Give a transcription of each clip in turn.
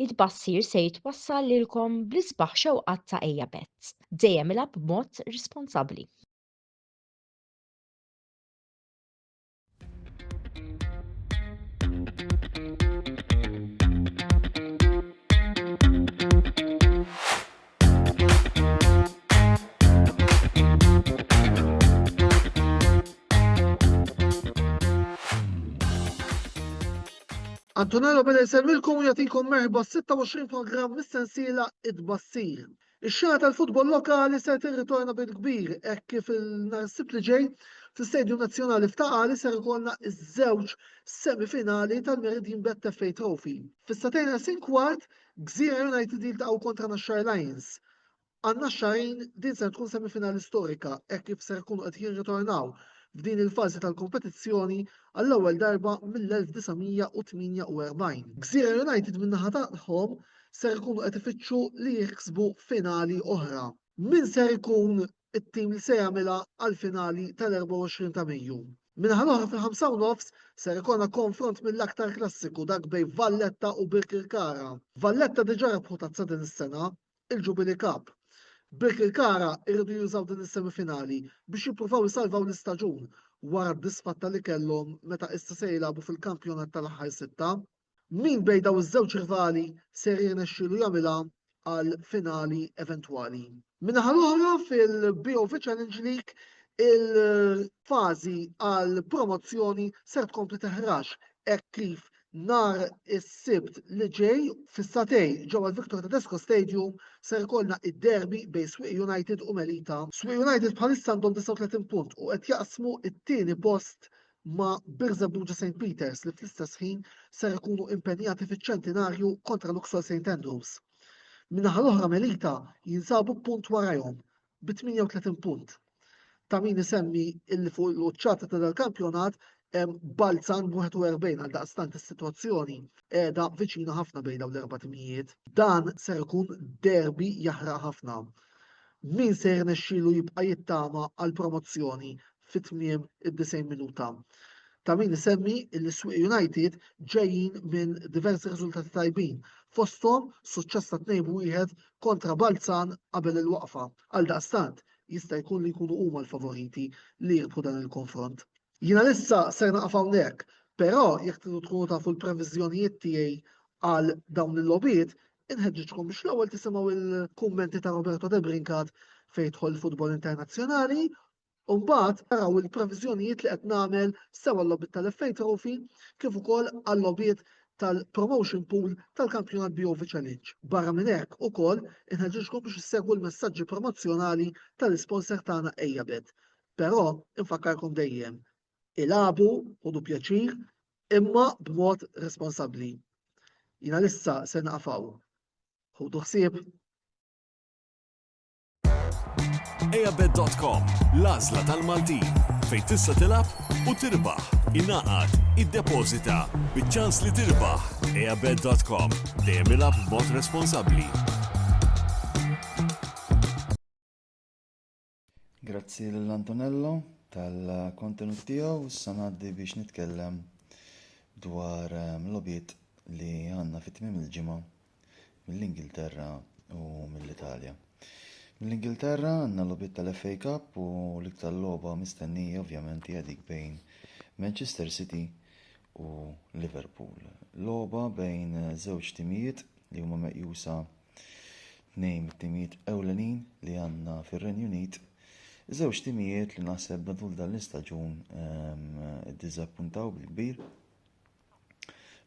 It-tbassir se jitwassal lilkom bl-isbaħ xewqat ta' Ejja Betts. Dejjem ilgħab b'mod responsabbli. Antonello beda jservilkom u jagħtikom merħba 26 programm mis-sensiela id-bassir. Ix-xena tal-futbol lokali se tirritorna bil-kbir hekk kif il-narsib li ġej fl-Istadium Nazzjonali f'Taqali ser ikollna iż-żewġ semifinali tal-Meridian Bet FA Trophy. Fis-satejn sin kwart Gżira United jiltaqgħu kontra Naxxar Lions. Għal Naxxarin din ser tkun semifinali storika hekk kif ser ikunu qed jirritornaw f'din il-fażi tal-kompetizzjoni għall-ewwel darba mill-1948. Gżira United min-naħa tagħhom ser ikunu qed ifittxu li jiksbu finali oħra. Min ser ikun it-tim li se jagħmilha għall-finali tal-24 ta' Mejju. Min-naħa l-oħra fil-ħamsa u nofs ser ikollna konfront mill-aktar klassiku dak bejn Valletta u Birkirkara. Valletta diġà rebħu tazza din is-sena, il-Jubilee Cup. Birkirkara jridu jużaw din is-semifinali biex jippruvaw isalvaw l-istaġun wara d-disfatta li kellhom meta issa se jilagħbu fil-kampjonat tal-aħħar sitta. Min bejn dawn iż-żewġ rivali ser jirnexxielu jagħmilha għal finali eventwali? Min-naħa l-oħra fil-BOV Challenge League il-fażi għal promozzjoni ser tkompli teħrax hekk kif nar is-sibt li ġej fis-satej ġewwa l-Victor Tedesco Stadium ser ikollna id-derby bejn Swieq United u Melita. Swieq United bħalissa għandhom 39 punt u qed jaqsmu t-tieni post ma' Birża Buġa St Peters li fl-istess ħin ser ikunu impenjati fiċ-ċentinarju kontra Luxol St Andrews. Min-naħa l-oħra Melita jinsabu punt warajhom bi 38 punt. Ta' min isemmi illi fuq il-quċċata ta' dal-kampjonat Balzan 41 għal daqstant is-sitwazzjoni qiegħda viċina ħafna bejn dawn l-erba' timijiet. Dan ser ikun derbi jaħraq ħafna. Min se jirnexxielu jibqa' jittama għal promozzjoni fi tmiem id-90 minuta. Ta' min isemmi li s-Swieq United ġejjin minn diversi riżultati tajbin, fosthom suċċess ta' 2-1 kontra Balzan qabel il-waqfa. Għaldaqstant, jista' jkun li jkunu huma l-favoriti li jirbħu dan il-konfront. Jiena lissa ser naqaf hawnhekk, però jekk tridu tkunu tafu l-previżjonijiet tiegħi għal dawn il-logħbiet, inħeġġiġkom biex l-ewwel tisimgħu l-kummenti ta' Roberto Debrincat fejn jidħol il-futbol internazzjonali U mbagħad naraw il-previżjonijiet li qed nagħmel sewa l-logħbiet tal-FA Trophy kif ukoll għal-logħbiet tal-promotion pool tal-kampjonat BOV Challenge. Barra minn hekk ukoll inħeġġiġkom biex issegwu l-messaġġi promozzjonali tal-isponsor tagħna Ejabet. Però infakkarkom dejjem, ilagħbu, ħudu pjaċir, imma b'mod responsabbli. Jiena lissa se naqaf hawn. Ħudu ħsieb. Ejabet.com, l-għażla tal-Maltin, fejn tista' tilab u tirbaħ, inaqat, id-deposita, bieċans li tirbaħ. Ejabet.com, dejjem ilab b'mod responsabbli. Grazzi l-Antonello tal-kontenut tiegħu, issa ngħaddi biex nitkellem dwar ehm, lobit li għandna fit-tmiem il-ġimgħa mill-Ingilterra u mill-Italja. Mill-Ingilterra għandna logħbiet tal-FA Cup u l-iktar logħba mistennija ovvjament hija dik bejn Manchester City u Liverpool. Logħba bejn żewġ timijiet li huma meqjusa tnejn mit-timijiet ewlenin li għandna fir-Renju Unit Żewġ timijiet li naħseb matul dan l-istaġun ehm, dizappuntaw bil-kbir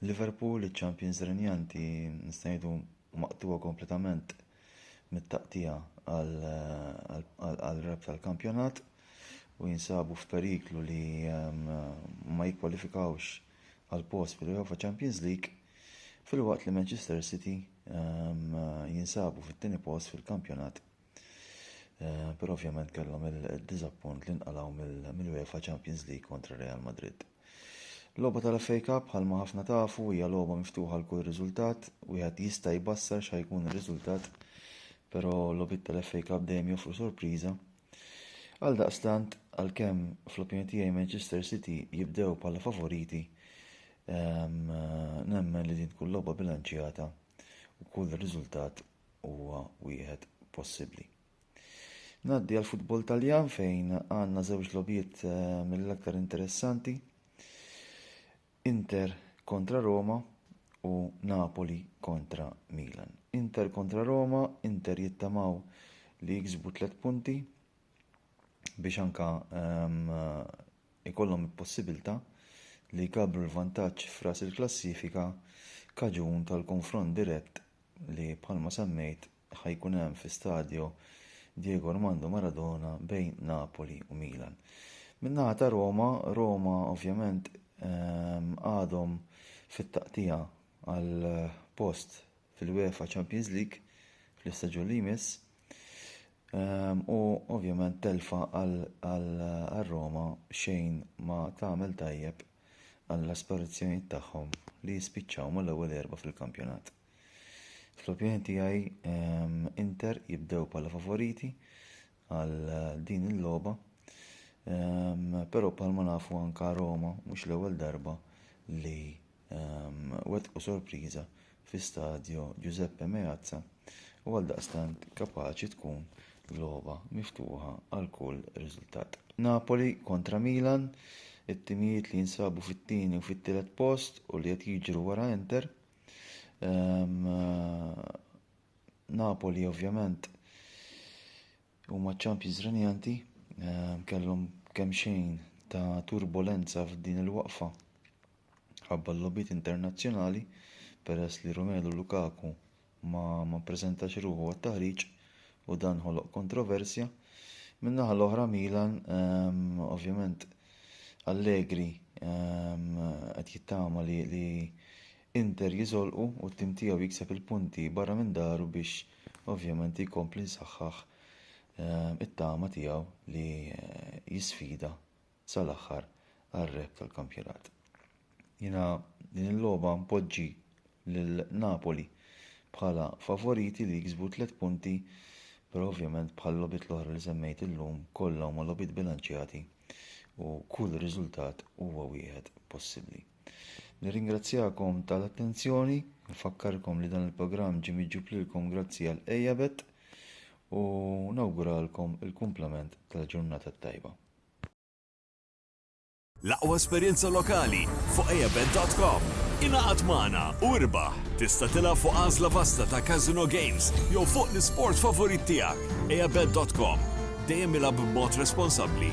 Liverpool, iċ-champions renjanti, nista' ngħidu maqtugħa kompletament mit-taqtija għal rep tal-kampjonat u jinsabu f'periklu li ehm, ma jikkwalifikawx għal post fil-UEFA Champions League filwaqt li Manchester City ehm, jinsabu fit-tieni post fil-kampjonat Eh, però ovvjament kellhom il-diżappunt li nqalgħu mill-UEFA Champions League kontra Real Madrid. Logħba tal-FA Cup bħalma ħafna tafu hija logħba miftuħa l kull riżultat, wieħed jista' jbassar xa jkun ir-riżultat, però logħbiet tal-FA Cup dejjem joffru sorpriża. Għal daqstant, għalkemm fl-opinjoni tiegħi Manchester City jibdew bħala favoriti, ehm, nemmen li din tkun logħba bilanċjata u kull riżultat huwa wieħed possibbli. Ngħaddi għal futbol Taljan fejn għandna żewġ lobiet eh, mill-aktar interessanti. Inter kontra Roma u Napoli kontra Milan. Inter kontra Roma, Inter jittamaw li jiksbu tliet punti biex anka um, ikollhom il-possibbiltà li jkabbru l-vantaġġ f'ras il-klassifika kaġun tal-konfront dirett li bħalma semmejt ħa jkun hemm fi Stadio Diego Armando Maradona bejn Napoli u Milan. Min-naħa ta' Roma, Roma ovvjament ehm, għadhom fit-taqtija għall-post fil-UEFA Champions League fl-istaġun li jmiss ehm, u ovvjament telfa għal Roma xejn ma tagħmel tajjeb għall-aspirazzjonijiet tagħhom li jispiċċaw mal-ewwel erba' fil-kampjonat. Fl-opinjoni tiegħi ehm, Inter jibdew bħala favoriti għal din il-logħba, ehm, però bħalma nafu anka Roma mhux l-ewwel darba li wettqu sorpriża fi Stadio Giuseppe Meazza u għaldaqstant kapaċi tkun logħba miftuħa għal kull riżultat. Napoli kontra Milan, it-timijiet li jinsabu fit-tieni u fit-tielet post u li qed jiġru wara Inter. Ehm, eh, Napoli ovvjament Huma ċ-champions renjanti kellhom kemmxejn ta' turbolenza f'din il-waqfa ħabba l-logħbiet internazzjonali peress li Romelu Lukaku ma ma ppreżentax ruħu għat-taħriġ u dan ħoloq kontroversja. Min-naħa l-oħra Milan ovvjament Allegri qed jittama li li Inter jiżolqu u t-tim tiegħu jikseb il-punti barra minn daru biex ovvjament jkompli jsaħħaħ it-tama tiegħu li jisfida sal-aħħar għar-rep tal-kampjonat. Jiena din il-logħba npoġġi lil Napoli bħala favoriti li jiksbu tliet punti però ovvjament bħal-logħbiet l-oħra li semmejt illum kollha huma logħbiet bilanċjati u kull riżultat huwa wieħed possibbli. Nirringrazzjakom tal-attenzjoni, nfakkarkom li dan il-programm ġie miġjub lilkom grazzi għal Ejabet u nawguralkom il-kumplament tal-ġurnata t-tajba. L-aqwa esperjenza lokali fuq ejabet.com. Ingħaqad magħna u irbaħ! Tista' tilgħab fuq għażla vasta ta' casino games jew fuq l-isport favorit tiegħek. Ejabet.com, dejjem ilgħab b'mod responsabbli.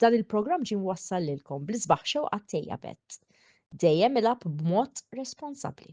Dan il-programm ġie mwassal lilkom bl-isbaħ xewqat tejja bet. Dejjem ilab b'mod responsabbli.